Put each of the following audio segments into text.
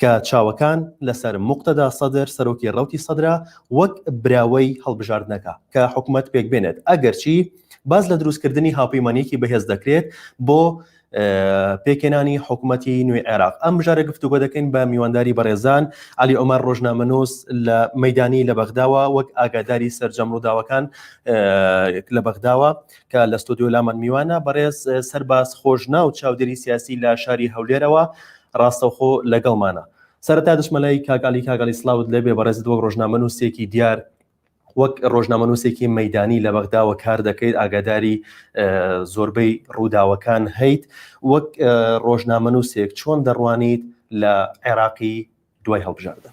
کە چاوەکان لەسەر موقتەدا سەدر سەرۆکی ڕەوتی سەدرە وەک براوەی هەڵبژاردنەکە کە حکومەت پێکبێنێت ئەگەرچی باس لە دروستکردنی هاوپەیمانیەکی بەهێز دەکرێت بۆ پێکێنانی حکوومەتی نوێی عێراق ئەم بژارە گفتوگۆ دەکەین بە میوانداری بەڕێزان علی ئۆمار ڕۆژنامەنووس لە مەدانی لە بەغداوە وەک ئاگاداری سرجەم ڕووداوەکان لە بەغداوە کە لە ستۆدیۆ لامان میوانە بەڕێز سەرباز خۆش ناو چاودێری سیاسی لە شاری هەولێرەوە ڕاستەوخۆ لەگەڵمانە. سەرەتا دەچمە لای کاک عەلی کاک عەلی سڵاوت لێبێ بەڕێزت وەک ڕۆژنامەنووسێکی دیار وەک ڕۆژنامەنووسێکی مەدانی لە بەغداوە کار دەکەیت ئاگاداری زۆربەی ڕووداوەکان هەیت وەک ڕۆژنامەنووسێک چۆن دەڕوانیت لە عێراقی دوای هەڵبژاردن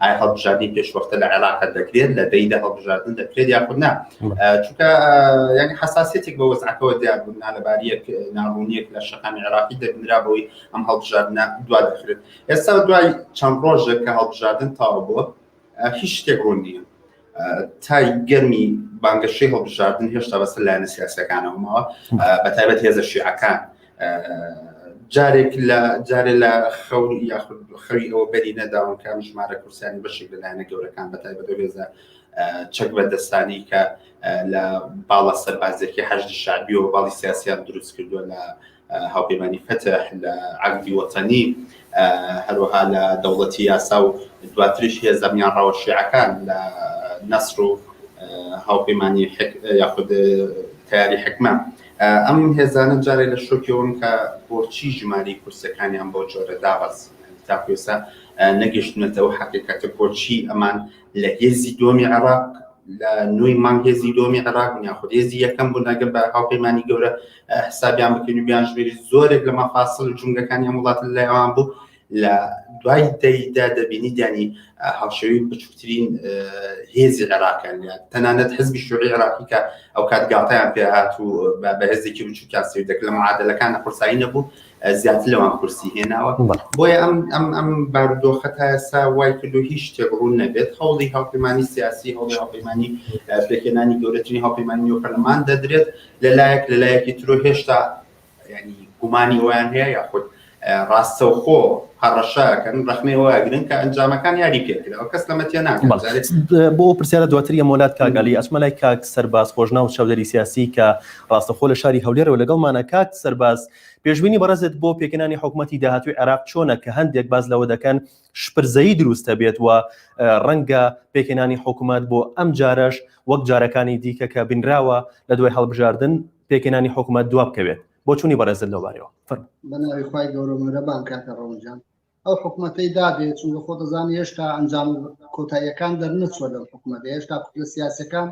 ئایا هەڵبژاردنی پێشوەختە لە عێراق دەکرێت لە دەیدا هەڵبژاردن دەکرێت یاخود نا چونکە یعنی حساسەتێک بە وەزعەکەەوە دیار بوون نالەباریەک ناڕوونیەک لە شەکانی عێراقی دەبنرا بۆی ئەم هەڵبژاردنە دوا دەخرێت ئێستا دوای چەند ڕۆژێک کە هەڵبژاردن تاوە بووە هیچ شتێک ڕوون نییە تای گەرمی بانگەشەی هەڵبژاردن هێشتا بەسەر لایەنە سیاسەکانەوە ماوە بە تایبەت هێزە شیعەکان جارێک لە جارێ لە خەون یاخود خەوی ئەوە بەری نەداون کە ئەم ژمارە کورسانی بەشێک لە لایەنە گەورەکان بە تایبەت هێزە چەک بەردەستانی کە لە باڵە سەربازێکی حەشت شادیەوە باڵی سیاسیان دروست کردووە لە هاوپەیمانی فەتح لە عەهدی وەتەنی هەروەها لە دەوڵەتی یاسا و دواتریش هێزەمیان ڕەوە شیعەکان لە نەسر و هاوپەیمانی یاخود تیاری حکمە ئەم هێزانە جارێ لە شۆکیەوەن کە بۆچی ژماری کورسەکانیان بۆ جۆرە دابەز تاکوێسا نەگەشتونەتە ئەو حقیقەتە بۆچی ئەمان لە هێزی دۆمی عراق لە نوێی مانگێزی دۆمی عراق یاخود هێزی یەکەم بوو نەگە بە هاوپەیمانی گەورە حسابیان بکەین و بیان ژمێری زۆرێک لە مەفاسل و جونگەکانی ئەم وڵات لای ئەوان بوو لە دوای دەیدا دەبینی دیانی هاوشەوی بچووترین هێزی عێراقیان تەنانەت حزبی شوعی عێراقی کە ئەو کات گاتیان پێ هات و بە هێزێکی بچووکیان سێ دەک لە معادلەکان قورسایی نەبوو زیاتر لەوان کورسی هێناوە بۆیە ئەم ئەم ئەم باردۆخە تا ئێستا وای کرد و هیچ شتێک ڕوون نەبێت هەوڵی هاوپەیمانانی سیاسی هەوڵی هاوپەیمانانی پێکێنانی گەورەترین هاوپەیمانانی و پەرلەمان دەدرێت لەلایەک لەلایەکی ترۆ هێشتا ینی گومانی ئەویان هەیە یاخود ڕاستەوخۆ هەڕەشەکەن ڕخنەی وەگرن کە ئەنجامەکان یاری پێکراوە کەس لەمەتیە ناکەێت بۆ پرسیارە دواتر یە مۆلات کاگەلی ئەسمە لای کاک سەرباز خۆشنا و چاودێری سیاسی کە ڕاستەخۆ لە شاری هەولێرەوە لەگەڵمانە کاک سەرباز پێشببینی بەڕێزت بۆ پێکەانی حکوومەتتی داهاتوی عێراق چۆنە کە هەندێک باز لەوە دەکەن شپرزەیی دروستەبێت و ڕەنگە پێکهێنانی حکومەت بۆ ئەم جارەش وەک جارەکانی دیکە کە بینراوە لە دوای هەڵبژاردن پێکهێنانی حکومەت دواب کەوێت بۆ چونی بەڕێزل لەوارەوە فەرم بەناوی خی گەورە مەرەبان کاکە ڕەوجان ئەو حکوومەتەی دابێت چون لە خۆتەزان هێشتا ئەنجام کۆتاییەکان دەرنەچوە لە حکوومەت هێشتا کوتلە سیاسەکان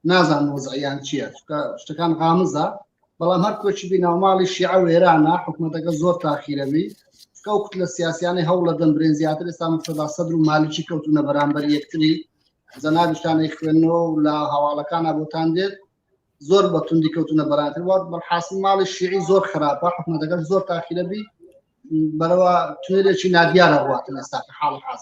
نازان وەزعیان چییە شتەکان غامزە بەڵام هەر کۆچی بی ناوماڵی شیعە و ئێرانە حکوومەتەکە زۆر تاخیرەبی کەو کوت لە سیاسیانی هەوڵ لە دەم برێن زیاتر ئێستا مستەدا سەدر و مالیکی کەوتونە بەرامبەر یەکتری زەنابشتانەی خوێندنەوە و لە هەواڵەکانە بۆتان دێت زۆر بە توندی کەوتونە بەراتر وات بەحاسی ماڵی شیعی زۆر خراپە حکومەتەکەش زۆر تاخیرە بی بەرەوە توێلێکی نادیارە ڕاتن ئێستا حاڵ حاز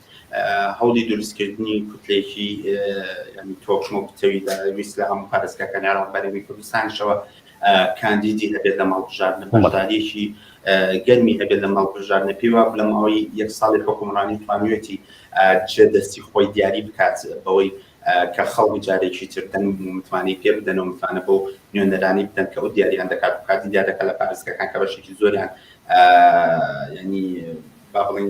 هەوڵی دروستکردنی کوتلێکی تۆکمە و پتەوی لە ویست لە هەموو پارێزگاکانی عێراق بەرەوی کوردستانشەوە کاندیدی هەبێت لە ماڵبژاردنە بەشداریەکی گەرمی هەبێت لە ماڵبژاردنە پێی وا لە ماوەی یەک ساڵی حکومڕانی توانیوێتی چێ دەستی خۆی دیاری بکات بەوەی کە خەڵک جارێکی تر دەنگ متمانەی پێ بدەن و متمانە بۆ نوێنەرانی بدەن کە ئەو دیاریان دەکات بکاتی دیارەکە لە پارێزگەکان کە بەشێکی زۆریان ینی با بڵین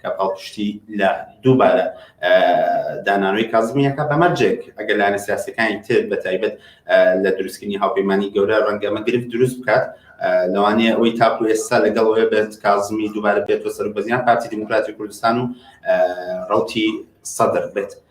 کە پاڵپشتی لە دووبارە دانانەوەی کازمیەکە بەمەرجێک ئەگەر لایەنە سیاسەکانی تر بە تایبەت لە دروستکردنی هاوپەیمانانی گەورە ڕەنگەمە گرفت دروست بکات لەوانەیە ئەوەی تاکو ئێستا لەگەڵ ئەوێ بێت کازمی دووبارە بێتەوە سەر بەزیان پارتی دیموکراتی کوردستان و ڕوتی سەدر بێت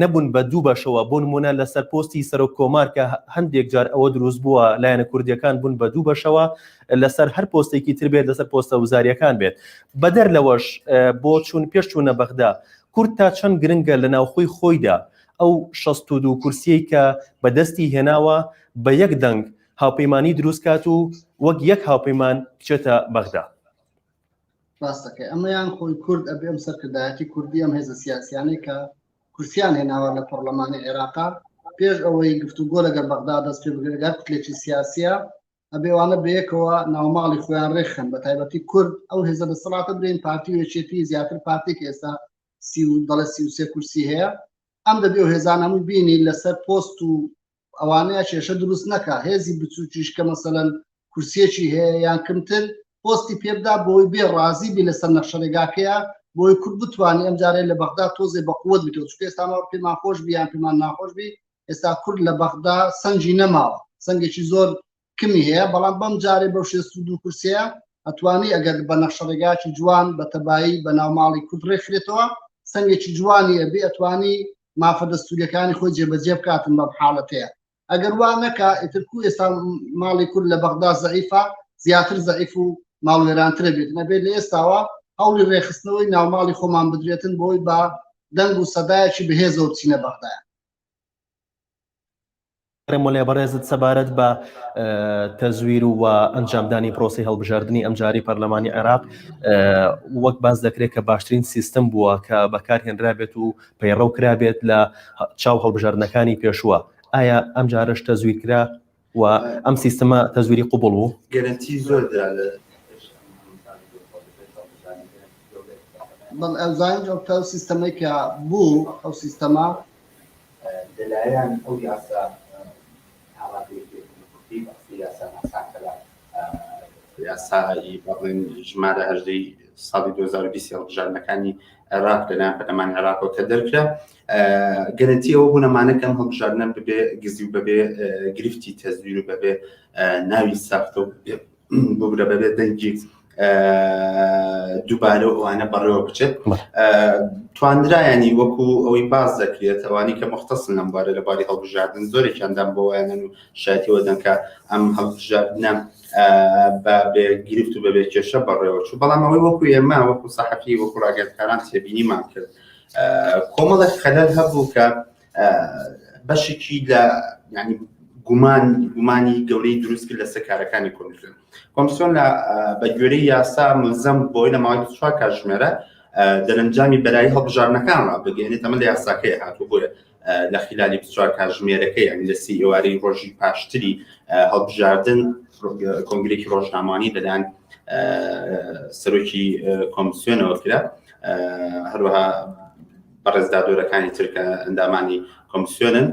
نەبوون بە دوو بەشەوە، بۆ نموونە لەسەر پۆستی سەرۆک کۆمار کە هەندێک جار ئەوە دروست بووە لایەنە کوردییەکان بوون بە دوو بەشەوە لەسەر هەر پۆستێکی تر بێت لەسەر پۆستە وزارییەکان بێت بەدەر لەوەش بۆ چوون پێش چوونە بەغدا کورد تا چەند گرنگە لە ناوخۆی خۆیدا ئەو شەست و دوو کورسیەی کە بەدەستی هێناوە بە یەک دەنگ هاوپەیمانی دروست کات و وەک یەک هاوپەیمان بچێتە بەغدا. ڕاستەکەی ئەمەیان خۆی کورد ئەبێ ئەم سەرکردایەتی کوردی ئەم هێزە سیاسیانەی کە کورسیان هێناوە لە پەرلەمانی عێراقا پێش ئەوەی گفتوگۆ لەگەر بەغدا دەست پێ بگرگات کلێکی سیاسە ئەبێوانە بەیەکەوە ناوماڵی خۆیان ڕێخن بە تایبەتی کورد ئەو هێزە دەسەڵاتە برین پارتی وێچێتی زیاتر پارتێک ئێستا سی و دەڵە سی وسێ کورسی هەیە ئەم دەبێ و هێزان هەموو بینی لەسەر پۆست و ئەوانەیە کێشە دروست نەکە هێزی بچووکیش کە مەسەەن کورسیەکی هەیە یان کمتر پۆستی پێبدا بۆی بێ ڕازی بی لەسەر نەخشەرێگاکەیە بۆی کورد بتوانانی ئەم جارێ لە بەغدا تۆزێ بە قوت بتەوە چکە ئێستاما پێمان خۆش بیان پێمان ناخۆش بی ئێستا کورد لە بەغدا سنجی نەماوە سنگێکی زۆر کمی هەیە بەڵام بەم جارێ بەو شێست و دوو کورسەیە ئەتوانی ئەگەر بە نەخشەڕێگاکی جوان بە تەبایی بە ناوماڵی کورد ڕێکخرێتەوە سنگێکی جوانی ئەبێ ئەتوانی مافە دەستوریەکانی خۆی جێبەجێ بکاتن بەم حاڵەتەیە ئەگەر وا نەکە ئترکو ئێستا ماڵی کورد لە بەغدا زعیفە زیاتر زعیف و ماڵوێرانترە بێت نەبێت لە ئێستاوە هەوڵی ڕێخستنەوەی ناوماڵی خۆمان بدرێتن بۆی بە دەنگ و سەدایەکی بەهێزەوە بچینە بەغدایە ئەرێ مۆلێ بەڕێزت سەبارەت بە تەزویر و ئەنجامدانی پرۆسی هەڵبژاردننی ئەمجاری پەرلەمانی عێراق وەک باز دەکرێت کە باشترین سیستم بووە کە بەکار هێنرابێت و پەیڕەو کرابێت لە چاو هەڵبژاردنەکانی پێشووە ئایا ئەمجارش تەزویر کرا و ئەم سیستمە تەزویری قوبڵ بوو. گەرەنتی زۆر درا لە بەڵێ ئەزانج ئەو تاو سیستەمەی کە بوو ئەو سیستەمە لەلایەن ئەو یاسا یاسایی بەڵێن ژمارە هەژدەی ساڵی 2020 هەڵبژاردنەکانی عێراق لەلایەن پەرلەمانی عێراقەوە کە دەرکرا گەرنتی ئەوە بوون ئەمانەکەم هەڵبژاردنە ببێ گزی و بەبێ گرفتی تەزویر و بەبێ ناوی ساختە و بگرە بەبێ دەنگی دووبارە و ئەوانە بەڕێوە بچێت توانرایانی وەکو ئەوەی باز دەکرێت ئەوانی کە مختەسن لەم بارە لە باری هەڵبژاردن زۆرێکیاندام بۆیانن و شایەتەوە دەنکە ئەم هەڵبژاردنە بە گرفت و بەبێ کێشە بەڕێوە چوو بەڵام ئەوەی وەکو ئێمە وەکو سەحەفی وەکو ڕاگەرکاران تێبینیمان کرد. کۆمەڵێک خەلەل هەبوو کە بەشێکی لە ینی گومان گومانی گەورەی دروست کرد لەسەر کارەکانی کۆمیسیۆن کۆمسیۆن لە بەگوێری یاسا ملزم بۆی لە ماوەی چوار کاتژمێرە دەرەنجامی بەرایی هەڵبژارنەکانەوە بگەێنێت ئەمە لە یاساکەی هاتوو بۆیە لە خلالی بچوار کاژمێرەکەی ئەم لە سی ئێوارەی ڕۆژی پاشتری هەڵبژاردن کۆنگرێکی ڕۆژنامانی لەلایەن سەرۆکی کۆمسیۆنەوە کرا هەروەها بەڕێزدادۆرەکانی ترکە ئەندامانی کۆمسیۆنن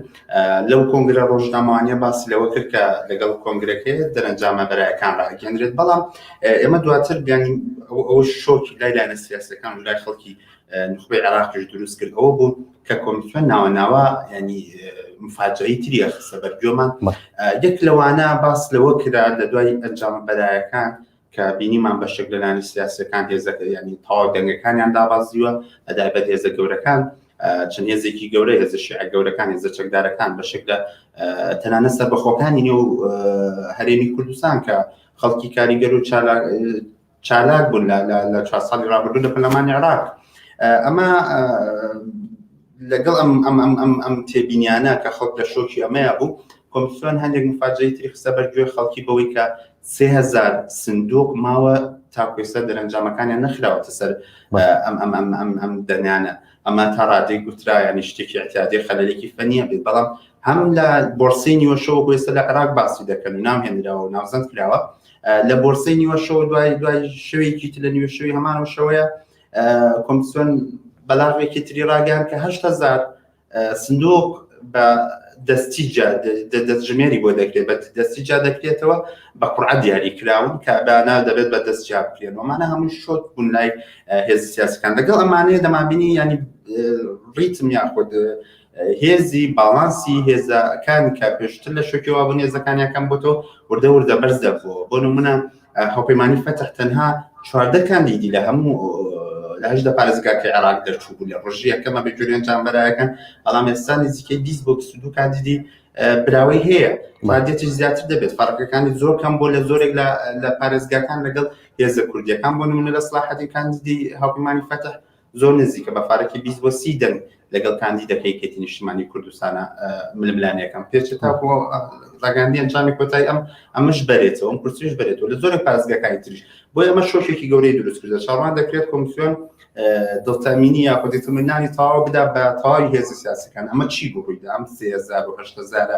لەو کۆنگرە ڕۆژنامەوانە باسی لەوە کرد کە لەگەڵ کۆنگرەکەی دەرەنجامە بەرایەکان ڕاگەندرێت بەڵام ئێمە دواتر بیانی ئەو شۆکی لای لایەنە سیاسەکان و لای خەڵکی نخبەی عێراقیش دروست کرد ئەوە بوو کە کۆمیسیۆن ناوە ناوە ینی مفاجایی تریە خسە بەرگۆمان یەک لەوانە باس لەوە کرا لە دوای ئەنجام بەرایەکان کە بینیمان بە شک لەلانی سیاسەکان هێزەکە ینی تاوا دەنگەکانیان دابازیوە ئەدا بە هێزە گەورەکان چەند هێزێکی گەورە هێزە شیع گەورەکان هێزە چەکدارەکان بە شک لە تەنانە سەر بەخۆکانی نێو هەرێمی کوردستان کە خەڵکی کاریگەر و چالا چالاک بوون لە چوار ساڵی رابردوو لە پەرلەمانی عێراق ئەمە لەگەڵ ئەم ئەم ئەم ئەم ئەم تێبینیانە کە خەڵک لە شۆکی ئەمەیە بوو کۆمسیۆن هەندێک مفاجەی تری خستە بەرگوێ خەڵکی بەوەی کە سهزار سندوق ماوە تاکوێستا دەرەنجامەکانیان نەخراوەتە سەر ئەم ئەم ئەم ئەم ئەم دەنانە ئەمە تا ڕادەی گوترایانی شتێکی احتیادی خەلەلێکی فەنیە بێت بەڵام هەم لە بۆرسی نیوەشەوە بۆێستا لە عراق باسی دەکەن و نامهێنراوە و ناوزەند کراوە لە بۆرسەی نیوە شەوە دوای دوای شەوێکی تر لە نیوە شەوی هەمان و شەوەیە کۆمسیۆن بەلاغێکی تری ڕاگەیان کە هەشت هزار سندوق بە دەستی دەستژمێری بۆ دەکرێت بە دەستی جا دەکرێتەوە بە قڕعە دیاری کراون کە بەنا دەبێت بە دەست جا بکرێن ومانە هەموو شۆت بوون لای هێز سیاسەکان لەگەڵ ئەمانەیە دەمابینی ینی ڕیتم یاخود هێزی باڵانسی هێزەکانی کە پێشتر لە شوکیەوە بوون هێزەکانیان کەم بۆتەوە وردە وردە بەرز دەبووە بۆ نمونە هەوپەیمانانی فەتح تەنها چواردە کاندیدی لە هەموو لە هەشدە پارێزگاکەی عێراق دەرچوو بوو لە ڕژی یەکەمە بێجوێن چامبەرایەکان بەڵام ئێستا نزیکەی 20 بۆ 22 کاندیدی براوەی هەیە مادێتش زیاتر دەبێت فەرقەکانی زۆر کەم بۆ لە زۆرێک لە پارێزگاکان لەگەڵ هێزە کوردیەکان بۆ نمونە لە سلاحەتی کاندیدی هاوپەیمانی فەتح زۆر نزیکە بە فارەکی بیست بۆ سی دەنگ لەگەڵ کاندیدەکە یەکێتی نیشتیمانی کوردستانە ململانێکەم پێچێت تا بۆ ڕاگەاندی ئەنجامی کۆتای ئەم ئەمەش بەرێتەوە ئەم کورسیش بەرێتەوە لە زۆرە پارێزگاکانی تریش بۆ ئەمە شۆکێکی گەورەی دروست کردە چاڕوان دەکرێت کۆمسیۆن دڵتەمینی یا خۆدیتمنانی تەواو بدا بە تەواوی هێزی سیاسەکان ئەمە چی بوو ڕوویدا ئەم سێزار و هەشتەزارە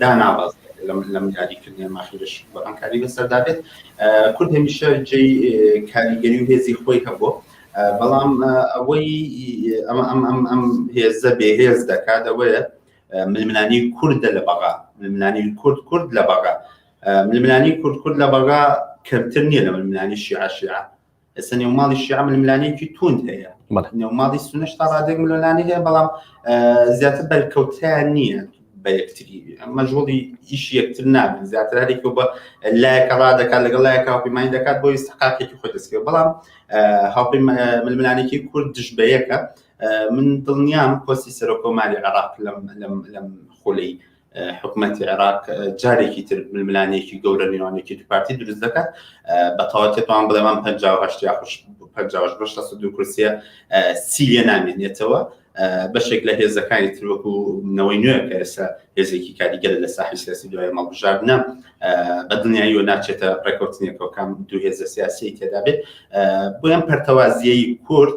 دانابەزێت لەم یاریکردنەی مافی لەشی گۆڕانکاری بەسەردا بێت کورد هەمیشە جێی کاریگەری و هێزی خۆی هەبوو بەڵام ئەوەی ئەمە ئەم ئەم ئەم هێزە بێهێز دەکات ئەوەیە ململانی کوردە لە بەغا ململانی کورد کورد لە بەغا ململانی کورد کورد لە بەغا کەمتر نییە لە ململانی شیعە شیعە ئێستا نێوماڵی شیعە ململانێکی توند هەیە بەڵێ. نێوماڵی سونەش تا ڕادێک ململانێ هەیە بەڵام آه، زیاتر بەرکەوتیان نییە بە یەکتری مەژوڵی ئیش یەکتر نابن زیاتر هەرێکی بە لایەکە ڕا دەکات لەگەڵ لایەکە هاوپەیمانی دەکات بۆی استحقاقێکی خۆی دەستکرد بەڵام آه، هاوپەی ململانێکی کورد دژ بە یەکە آه، من دڵنیام پۆستی سەرۆکۆماری عراق لەم لەم لەم خولەی حکوومەتی عێراق جارێکی تر ململانێکی گەورە نێوانێکی دوپارتی دروست دەکات بەتەواتێتوان بڵێوان پێ خوش پەنجاش بەش لە دوو کورسە سیە نامێنێتەوە بەشێک لە هێزەکانی تر وەکو نەوەی نوێ کە ئێستا هێزێکی کاریگەر لە ساحی سیاسی دوای مەڵبژاردنە بە دنیایی و ناچێتە ڕێکوتنێکەوەکەم دوو هێزە سیاسی تێدا بێت بۆیان پەرتەوازیایی کورد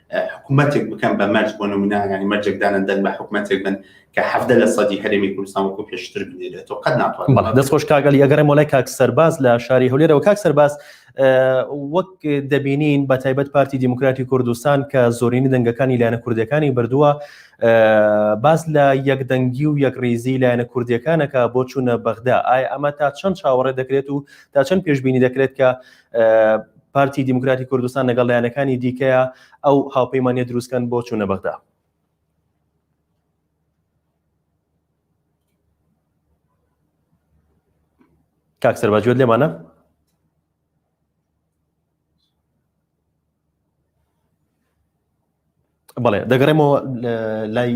حکوومەتێک بکەن بە مەرج بۆ نمونانانی مەرجێک دانن دەن بە حکوومەتێک بن کە حەفدە لە سەدی هەرێمی کوردستان وەکو پێشتر بنێرێتەوە قەت ناتوان دەست خۆش کاگەل یەگەڕێ مۆلای کاک سەرباز لە شاری هەولێرەوە کاک سەرباز وەک دەبینین بە تایبەت پارتی دیموکراتی کوردستان کە زۆرینی دەنگەکانی لایەنە کوردەکانی بردووە باز لە یەکدەنگی و یەکڕیزی لایەنە کوردیەکانەکە بۆ چوونە بەغدا ئایا ئەمە تا چەند چاوەڕێ دەکرێت و تا چەند پێشببینی دەکرێت کە پارتی دیموکراتی کوردستان لەگەڵ لایەنەکانی دیکەیە ئەو هاوپەیمانە دروستکەن بۆ چوونە بەغدا کاک سەرباجوێت لێمانە بەڵێ دەگەڕێمەوە لای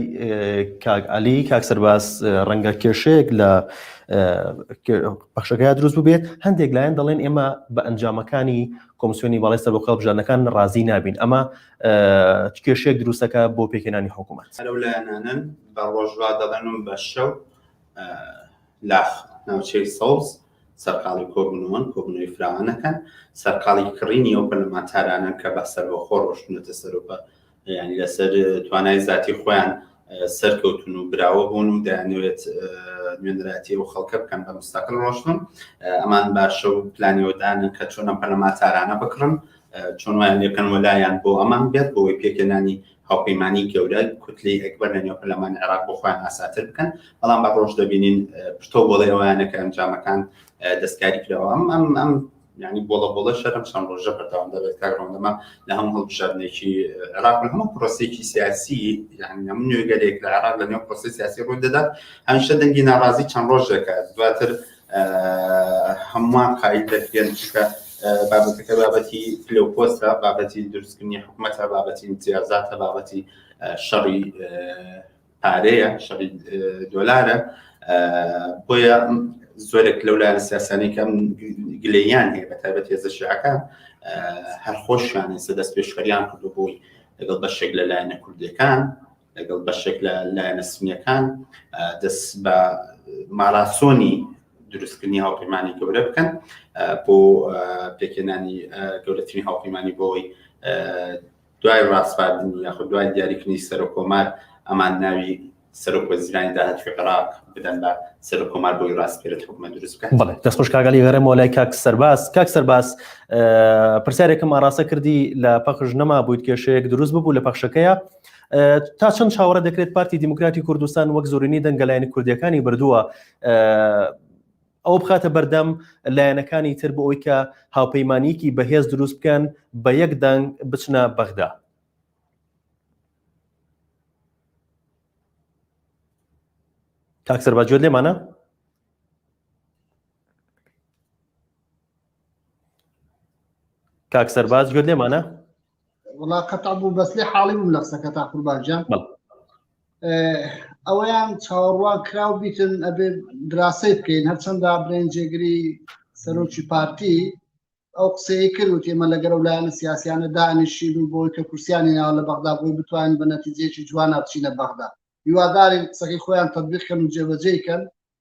کاک علی کاک سەرباز ڕەنگە کێشەیەک لە پەخشەکە دروست ببێت هەندێک لایەن دەڵێن ئێمە بە ئەنجامەکانی کۆمسیۆنی باڵی سەر بۆ کاڵبژانەکان ڕازی نابین ئەمە کێشەیەک دروستەکە بۆ پێکێنانی حکوومەت لەو لایەنانن بە ڕۆژوا دەڵێنم بە شەو لاخ ناوچەی سەوز سەرقاڵی کۆبوونەوەن، کۆبوونەوەی فراوانەکەن، سەرقاڵی کڕینی ئەو پەرلەمانتارانەن کە بە سەربەخۆ ڕۆشتونەتە سەر و بە یانی لەسەر توانای زاتی خۆیان سەرکەوتون و براوە بوون و دەیانەوێت نوێنەراتی و خەڵکە بکەن بە مستەقل ڕۆشتن ئەمان باشە و پلانیەوەدانن کە چۆن ئەم پەرلەمانتارانە بکڕن چۆن وایان لێکەن وەلایەن بۆ ئەمان بێت بۆی پێکەنانی هاوپەیمانی گەورە کوتلەی ئەکبەر لە نێو پەرلەمانی عێراق بۆ خۆیان ئاساتر بکەن بەڵام بە ڕۆژ دەبینین پشتۆ بۆڵێ ئەویانە کە ئەنجامەکان دەستکاری کراوە ئەم ئەم ئەم ینی بۆڵە بۆڵە شەرم چەند ڕۆژە بەردەوام دەبێت کارڕۆندەمە لە هەموو هەڵبژاردنێکی عراق هەموو پرۆسێکی سیاسی یعنی هەموو نوێگەرێک لە عراق لە نێو پرۆسی سیاسی ڕووی دەدات هەمیشە دەنگی ناڕازی چەند ڕۆژێکە دواتر هەمووان قایل دەکرێن چونکە بابەتەکە بابەتی پلەپۆستە بابەتی دروستکردنی حکوومەتە بابەتی امتیازاتە بابەتی شەڕی پارەیە شەڕی دۆلارە بۆیە زۆرێک لەو لا لە سیاسانی کەم گلەیان هەیە بە تایبەت هێزە شعەکان هەر خۆشیان سەدەست پێشخەریان کردو بووی لەگەڵ بەشێک لە لایەنە کوردەکان لەگەڵ بەشێک لە لایەنە سونیەکان دەست بە ماراسۆنی دروستکردنی هاوپەیمانی گەورە بکەن بۆ پێکێنانی گەورەترین هاوپەیمانی بۆی دوای ڕاستپاردن یاخود دوای دیاریکردنی سەرۆک کۆمار ئەمان ناوی سەرۆک وەزیرانی داهاتوی عراق بدەن بە سەرۆک کۆمار بۆی ڕاستپێرت حکومە دروست بکەن بڵێ دەست خوش کاگەلی گەرەمەوە لای کاک سەرباز کاک سەرباز پرسیارێکم ئاراستە کردی لە پەخش نەما بوویت کێشەیەک دروست ببوو لە پەخشەکەیە تا چەند چاوەڕە دەکرێت پارتی دیموکراتی کوردستان وەک زۆرینی دەنگە لایەنە کوردیەکانی بردووە ئەوە بخاتە بەردەم لایەنەکانی تر بۆ ئەوی کە هاوپەیمانیکی بەهێز دروست بکەن بە یەک دەنگ بچنە بەغدا کاکسەر باجوێت لێمانە کاکسەر باز گوێت لێمانە وڵا قەتع بوو بەس لێ حاڵی بووم لە قسەکە تا قوربانجان ئەوەیان چاوەڕوان کراو بیتن ئەبێ دراسی بکەین هەرچەنددا برێن جێگری سەرۆکی پارتی ئەو قسەیە کرد و تێمە لەگەرە و لایەنە سیاسیانە دانیشین و بۆی کە کورسیانی ناوە لە بەغدا بۆی بتوانین بە نەتیجێکی جوان ناوچینە بەغدا هیوادارین قسەکەی خۆیان تەبیخکەن و جێبەجێکەن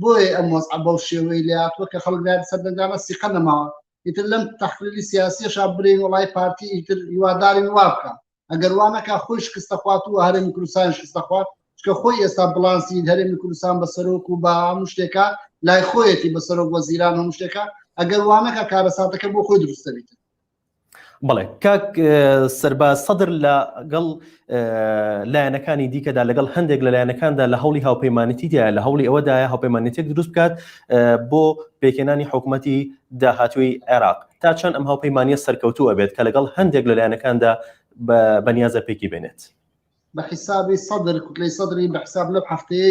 بۆیە ئەم وەزعە بەو شێوەی لاتوە کە خەڵک لای سەردەنگانە سیقە نەماوە ئیتر لەم تەحلیلی سیاسیەشا برین وڵای پارتی ئیتر هیوادارین وا بکە ئەگەر وانەکە خۆی شکستە خوات و هەرێمی کوردستان شکستە خوات چکە خۆی ئێستا بڵانسی هەرێمی کوردستان بە سەرۆک و بە هەموو شتێکە لای خۆیەتی بە سەرۆک وەزیران هەموو شتێکە ئەگەر وانەکە کارەساتەکە بۆ خۆی دروستەبیت بەڵێ کاک سەرباز سەدر لەگەڵ لایەنەکانی دیکەدا لەگەڵ هەندێک لە لایەنەکاندا لە هەوڵی هاوپەیمانەتیدا لە هەوڵی ئەوەدایە هاوپەیمانەتێک دروست بکات بۆ پێکێنانی حکوومەتی داهاتوی عێراق تا چەند ئەم هاوپەیمانە سەرکەوتووە بێت کە لەگەڵ هەندێک لە لایەنەکاندا بەنیازە پێکی بێنێت بە حیسابی سەدر کوتلەی سەدری بە حساب لەم هەفتەیە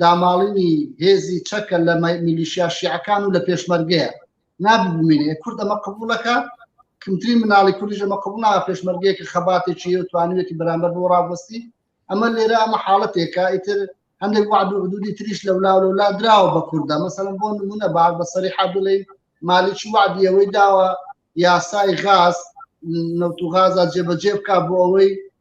داماڵینی هێزی چەکە لە میلیشیا شیعەکان و لە پێشمەرگەیە ناببمێنێ کورد ئەمە قبولەکە کمترین مناڵی کوردیش ئەمە قبوڵا پێشمەرگەیەکە خەباتێکی و توانوێتی بەرامبەر بۆ ڕاوەستی ئەمە لێرە ئەمە حاڵەتێکە ئیتر هەندێک وعد و حدودی تریش لەولا لەولا دراوە بە کوردە مەسەن بۆ نمونە بار بە سەری حابلەی مالیکی وعدی ئەوەی داوە یاسای غاز نەوت و غازە جێبەجێ بک بۆ ئەوەی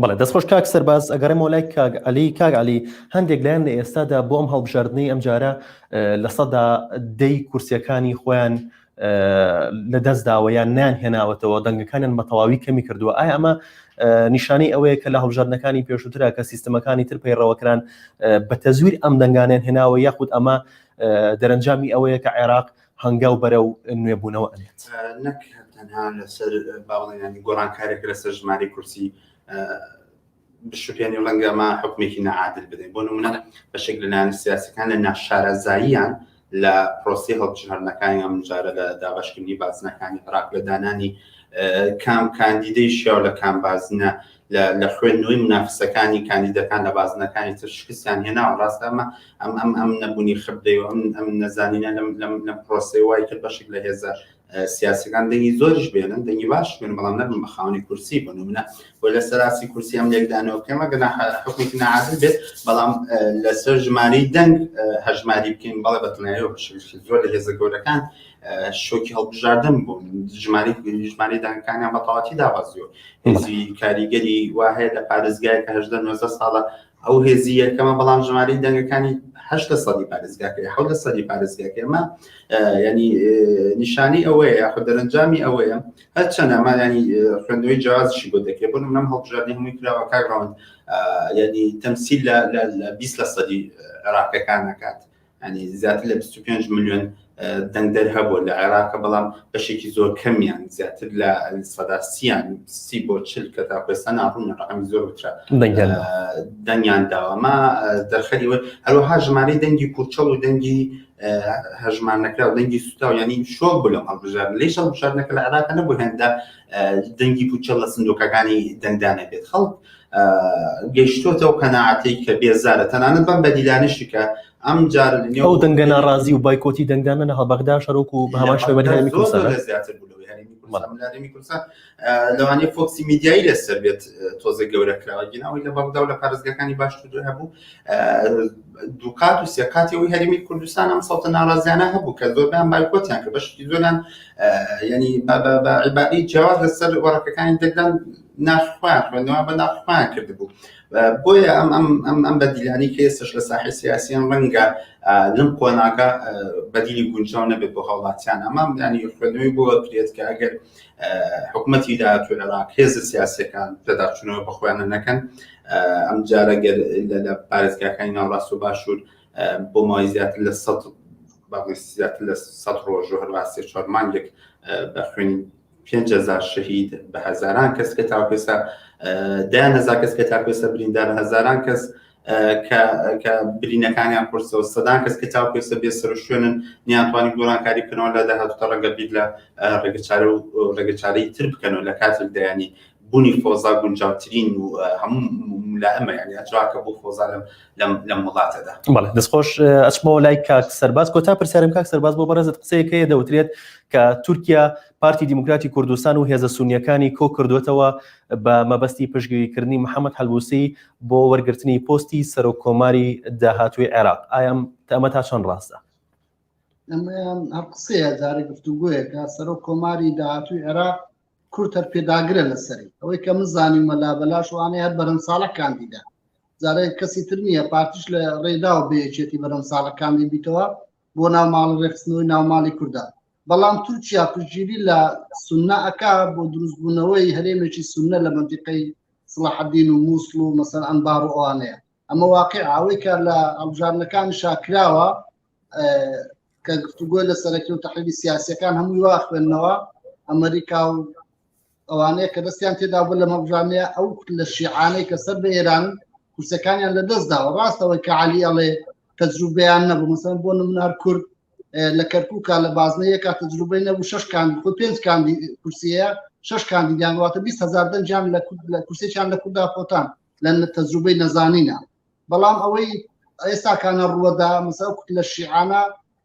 بەڵێ دەست خۆش کاک سەرباز ئەگەڕێمەوە لای کاک علی کاک علی هەندێک لایەن لە ئێستادا بۆ ئەم هەڵبژاردنەی ئەم جارە لە سەدا دەی کورسیەکانی خۆیان لە دەست داوە یان نیان هێناوەتەوە دەنگەکانیان بە تەواوی کەمی کردووە ئایا ئەمە نیشانەی ئەوەیە کە لە هەڵبژاردنەکانی پێشووترا کە سیستمەکانی تر پەیڕەوەکران بە تەزویر ئەم دەنگانیان هێناوە یاخود ئەمە دەرەنجامی ئەوەیە کە عێراق هەنگاو بەرەو نوێبوونەوە ئەنێت. نەک تەنها لەسەر باڵێنانی گۆڕانکارێک لەسەر ژمارەی کورسی بشوپێنی ڕەنگە ما حکومێکی نەعادل بدەین بۆ نمونە بەشێک لەلایەن سیاسەکان لە ناشارەزاییان لە پرۆسی هەڵبژاردنەکانی ئەمجارە لە دابشکردنی بازنەکانی عراق لە دانانی کام کاندیدەی شیاو لە کام بازنە لە خوێندنەوەی منافسەکانی کاندیدەکان لە بازنەکانی تر شکستیان هێناوە ڕاستە ئەمە ئەم ئەم ئەم نەبوونی خبدەی و ئەم ئەم نەزانینە لەم لەم لە پرۆسی وای کرد بەشێک لە هێزە سیاسەکان دەنگی زۆرش بێنن دەنگی باش بێن بەڵام نەبن بە خاونی کورسی بن و منە بۆ لە سەراسی کورسی ئەم لێکدانەوە کەمە گەنا حکوێکی نعادل بێت بەڵام لەسەر ژماری دەنگ هەژماری بکەین بەڵێ بەتنایەوە بەشێک زۆر لە هێزە گەورەکان شۆکی هەڵبژاردن بوون ژماری ژماری دانکانیان بەتەواتی دابەزیۆ هێزی کاریگەری وا هەیە لە پارێزگای کە هەشدە نۆزە ساڵە ئەو هێزی یەکەمە بەڵام ژماری دەنگەکانی هەشتا سەدی پارێزگاکەی حەوتە سەدی پارێزگاکەمە ینی نیشانی ئەوەیە یاخ دەرەنجامی ئەوەیە هەر چەندەمان ینی خوێندنەوەی جیازشی بۆ دەکرێت بۆ منم هەڵبژاردنی هەمووی کراوە کاگڕاوند ینی تەمسیل لە بیست لە سەدی عراقەکان نکات ینی زیاتر لە 25 ملیۆن دەنگدەر هەبوو لە عێراقە بەڵام بەشێکی زۆر کەمیان زیاتر لە سەدا سیان سی بۆ چل کە تا پێستا ناڕوونە ڕقمی زۆر وچە دەنگیان داوەما دەرخەری وە هەروەها ژمارەی دەنگی کوچەڵ و دەنگی هەژمان نەکرا و دەنگی سوتا و ینی شۆک بوو لە هەڵبژار لەیش هەڵبژار نەکە لە عراقە نەبوو هێندا دەنگی پوچەڵ لە سندۆکەکانی دەنگدانە بێت خەڵک گەشتۆتە و قەنەعاتەی کە بێزارە تەنانەت بەم بەدیلانشی کە ئەم جار ئەو دەنگە ناڕازی و بایکۆتی دەنگدانە لە هەڵبەغدا شەرۆک و هەمان شێوە زیاتر بوو لەوانەیە فۆکسی میدیایی لەسەر بێت تۆزە گەورەکراوە گیناوی لە بەغدا و لە پارێزگەکانی باشتر هەبوو دووکات و سێکاتی ئەوی هەرمی کوردستان ئەم سەڵتە ناڕازیانە هەبوو کە زۆربیان بایکۆتیان کە بەشی زۆران ینی عیبادی جیاواز لەسەر وەڕەکەەکانی دەگران ناخخوایان خوێندەوە بە ناخخوایان کردبوو بۆیە ئەم ئەم ئەم ئەم بەدیلانی کە ئێستش لە ساحی سیاسیان ڕەنگە لەم قۆناکە بەدیلی گونجاو نەبێت بۆ هاوڵاتیان ئەمام ینی خوێنەوەی بۆ بکرێت کە ئەگەر حکومەتی داهاتوو عێراق هێزە سیاسەکان پێداچوونەوە بە خۆیانە نەکەن ئەم جارە گەر لە پارێزگاکانی ناوڕاست و باشوور بۆ مای زیاتر لە سە زیاتر لە سە ڕۆژ و هەروە سێ چوار مانگێک بە خوێنی پێهزار شەهید بە هەزاران کەس کە تاکێسا دایان هزار کەس کە تاکێسا بریندار هەزاران کەس کە برینەکانیان قورسەوە سەدان کەس کە تاو پێسە بێ سەر شوێنن نیانتوانی گۆڕانکاری بکەنەوە لە داهاتوتە ڕەنگە بیر لە ڕێگەچارە و ڕێگەچارەی تر بکەنەوە لە کاتێک دەیانی بوونی فۆزا گونجاوترین و هەموو لە ئەمە یعنی ئەجراکە بۆ فۆزا لەم لەم وڵاتەدا بەڵێ دەستخۆش ئەچمەوە لای کاک سەرباز کۆتا پرسیارم کاک سەرباز بۆ بەڕێزت قسەیەکەیە دەوترێت کە تورکیا پارتی دیموکراتی کوردستان و هێزە سونیەکانی کۆ کردوێتەوە بە مەبەستی پشگیریکردنی محەممەد هەلوسی بۆ وەرگرتنی پۆستی سەرۆک کۆماری داهاتووی عێراق ئایام تەمە تا چەند ڕاستە ئەمە قسەیە جارە گفتوگویەکە سەرۆک کۆماری داهاتووی عێراق کورتەر پێداگرە لەسەری ئەوەی کە من زانیمە لا بەلاش وانەیە بەرەم ساڵە کاندیدا جارێک کەسی تر نییە پارتیش لە ڕێدا و بێچێتی بەرەم ساڵەکانی بیتەوە بۆ ناو ماڵ ڕێخستنەوەی ناو ماڵی کوردان بەڵام تورکیا پژگیری لە سنە ئەک بۆ دروستبوونەوەی هەرێمێکی سنە لە منتیقەی سڵحدین و مووسڵ و مەسەر ئەمبار و ئەوانەیە ئەمە واقع ئەوەی کە لە ئەڵژارنەکان شاکراوە کە گفتوگۆی لە سەرەکی و تحلیلی سیاسەکان هەمووی واخوێندنەوە ئەمریکا و ئەوانەیە کە دەستیان تێدا بوو لە مەبژانەیە ئەو لە شیعانەی کە سەر بە ئێران کورسەکانیان لە دەستدا و ڕاستەوەی کە علی ئەڵێ تەجروبیان نەبوو مەسەن بۆ نمنار کورد لە کەرکووکە لە بازنەیە کا تەجروبەی نەبوو شش کاندی خۆ پێنج کاندی کورسیە شش کاندیدیان واتە 20 هزار دەنجان لە کورسێکیان لە کودا خۆتان لە تەجروبەی نەزانینە بەڵام ئەوەی ئێستاکانە ڕووەدا مەسا لە شیعانە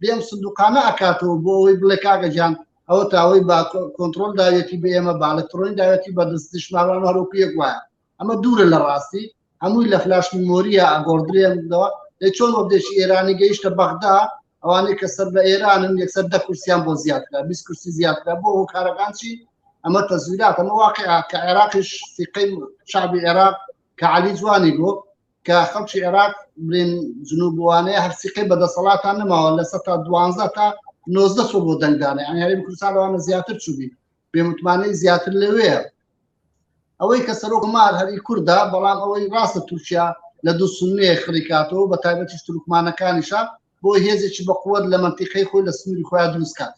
بێم سندوقانە ئەکاتەوە بۆ ئەوەی بڵێ کاگە جان ئەوە تاوەی با کۆنتترۆل داوێتی بە ئێمە باڵکترۆین داوێتی بە دەست دشماوان هەرۆکی یەک وایە ئەمە دوورە لە ڕاستی هەمووی لە فلاش میمۆریە ئەگۆڕدرێنەوە لە چۆن وەبدێکی ئێرانی گەیشتە بەغدا ئەوانەی کە سەر بە ئێرانن یەکسەر دە کورسیان بۆ زیاترا بیست کورسی زیاترا بۆ هۆکارەکان چی ئەمە تەزویرات ئەمە واقع کە عێراقیش سیقەی شعبی عێراق کە علی جوانی بۆ کە خەڵکی عێراق برێن جنوبوانەیە هەرسیقی بە دەسەڵاتان نەماوە لە سە تا دوانزە تا نۆزدە سۆ بۆ دەنگدانە ئەنیاریم کوردستانەوانە زیاتر چوبی بێمتمانەی زیاتر لەوەیە ئەوەی کە سەرۆک مار هەری کووردا بەڵام ئەوەی ڕاستە تورکیا لە دوو سنێ خڕیکاتەوە بە تایبەتی تورکمانەکانیشە بۆ هێزێکی بەقوت لە منتیقەی خۆی لە سنووری خۆیان دروستکات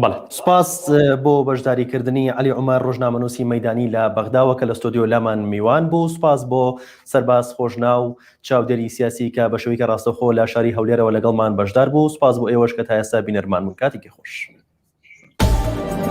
بەڵێ سپاس بۆ بەشداریکردنی علی عمر ڕۆژنامەنووسی مەدانی لە بەغداوە کە لە ستۆدیۆ لامان میوان بوو سپاس بۆ سەرباز خۆشنا و چاودێری سیاسی کە بە شویکە ڕاستەخۆ لە شاری هەولێرەوە لەگەڵمان بەشدار بوو سپاس بۆ ئێوەش کە تا ئێستا بینەرمان بوون کاتێکی خۆش.